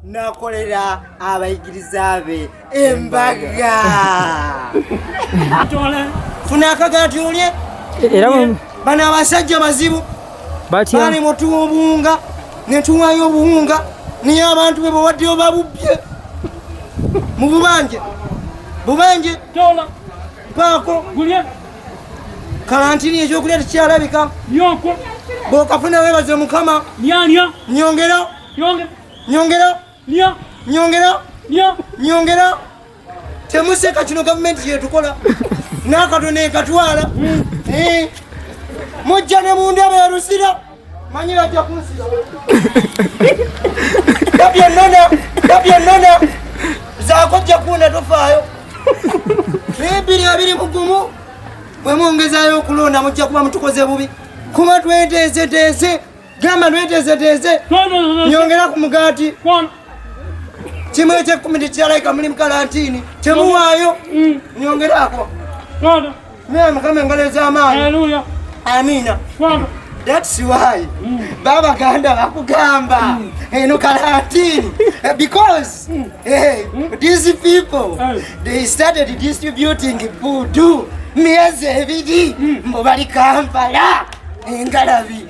nakolera abayigiriza be embaga funa akagati olye era bano abasajja bazibu bali mutuwa obuwunga netuwayo obuwunga niye abantu be bawaddeyo babubye mu bubanje bubanje paako kalantini ekyokulya tekyalabika bwokafuna webaze mukama nyongera Nyongera. Nya. Nyongera. Nya. Nyongera. Temuseka kino gavumenti yetukola n'akatono ekatwala hmm. eh. mujja ne mu ndebe erusira manyi bajja kunsiza gabyennona gabyennona zakojja kuunda tofaayo ebiri abiri mugumu bwe mwongezayo okulonda mujja kuba mutukoze bubi kuba tweteeseteese gamba nweteezeteeze nyongera ku mugaati kimu ekyekumi tekiralaika muli mukalantiini temuwaayo mm. nyongeraako naye mukama engalo ez'amaanyi amiina That's why mm. Baba Ganda bakugamba mm. Eh, no karantini eh, because mm. hey, eh, mm. these people mm. they started distributing food miezi ebiri mm. mbo bali Kampala engalabi